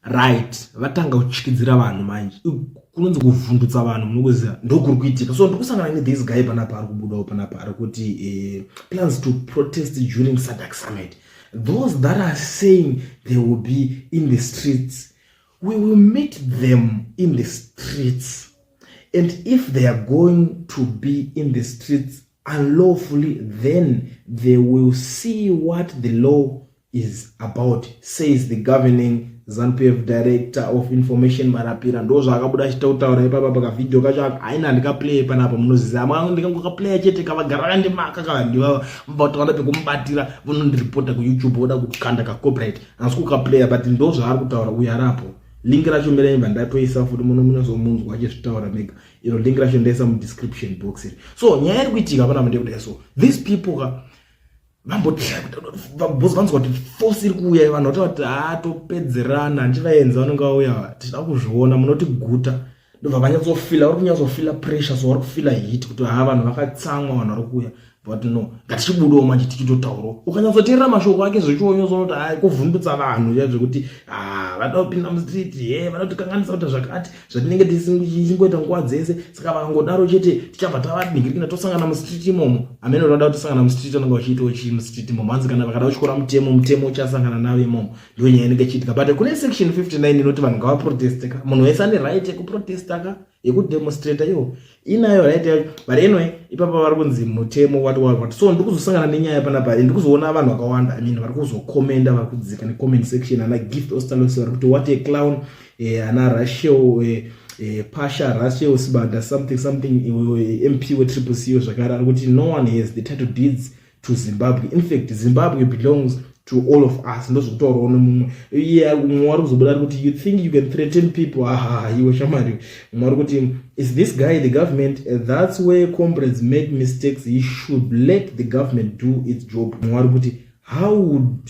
right vatanga kutyidzira vanhu manje kunonzi kuvhundutsa vanhu munokuziva ndokuri kuitika so ndikusangana nethis guy panapa ari kubudawo panapa ari kuti eh, plans to protest during sadak summit those that are saying they will be in the streets we will meet them in the streets and if they are going to be in the streets unlawfully then they will see what the law is about says the governing zanupf director of information marapira ndo zvaakabuda achita kutaura ipapa pakavideo kacho haina handikaplay panapa munoziva mwana ndikangokaplaya chete kavagara vakandimaka kavandivava vataona pekumubatira vonondiripota kuyoutube voda kukanda kacopyright hansi kukaplaya but ndo zvaari kutaura uyo arapo lingi racho mirenyi vandatoisa futi munomunyazomunzwa achizvitaura mega iro link racho ndaisa mudescription box iri so nyaya iri kuitika pana mandekudai so these people ka vambotyaabcause vanzwa kuti force iri kuuya vanhu vataura kuti hatopedzerana ah, handivaenzi vanenge vauya tichida kuzviona munoti guta ndobva vanyatsofila vari kunyatsofila pressure so vari kufila hit kuti ha ah, vanhu vakatsamwa vanhu vari kuuya but no ngatichibudawo manje tichitotaurawo ukanyatsoteerera mashoko ake zvechionyozonoti hai kuvhundutsa vanhu zviya zvekuti ah, vada kupinda mustreet he vada kutikanganisa kuita zvakati zvatinenge tisingoita nguva dzese saka vakangodaro chete tichabva tavadingirikina tosangana mustreet imomo amene vada kutosangana mustreet anenge vachiitawo chii mustreet imomo hanzi kana vakada kuchikora mutemo mutemo uchasangana navo imomo ndiyo nyaya inenge chiitika but kune section 59 inoti vanhu ngavaproteste ka munhu wese ane right yekuprotesta ka yekudemonstrator iyo inayo right yacho but anyway ipapa vari kunzi mutemo what what what so ndikuzosangana nenyaya panapa and ndikuzoona vanhu vakawanda i mean vari kuzokomenda vari kudzika necomment section ana gift ostalos vari kuti what a clown eh, ana rachel eh, eh, pasha rachel sibanda something something eh, mp wetriple co zvakare ari kuti no one has the title deeds to zimbabwe infact zimbabwe belongs to all of us ndozvekutaurawo nomumwe iye mumwe wari kuzobuda ari kuti you think you can threaten people hahaha ah, iwe shamari mumwe wari kuti is this guy the government eh, that's where comrades make mistakes he should let the government do its job mumwe wari kuti how would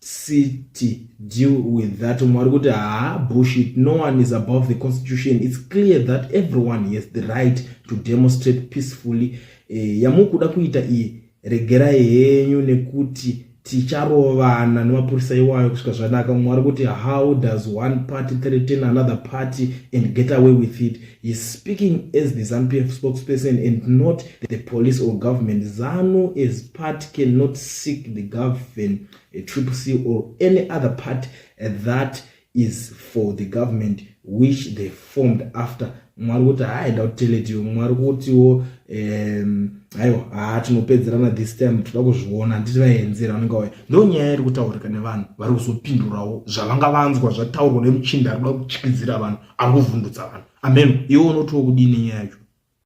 city deal with that umwe ari kuti haa bushit no one is above the constitution its clear that everyone has the right to demonstrate peacefully eh, yamukuda kuita iyi regerai henyu nekuti ticharovana nemapurisa iwayo kusvika zvanaka umwe ari kuti how does one party threaten another party and get away with it He's speaking as the ZANPF spokesperson and not the police or government. ZANU as part cannot seek the government, a triple C or any other part uh, that is for the government which they formed after mwari kuti haaenda kuteletiyo mwari kutiwo um, aiwa haa tinopedzerana this time toda kuzviona handiti vaenzera vanenge waya ndo nyaya iri kutaurika nevanhu vari kuzopindurawo zvavanga vanzwa zvataurwa nemuchinda arikuda kuchikidzira vanhu ari kuvhundutsa vanhu ameno iwe unotiwo kudii nenyaya yacho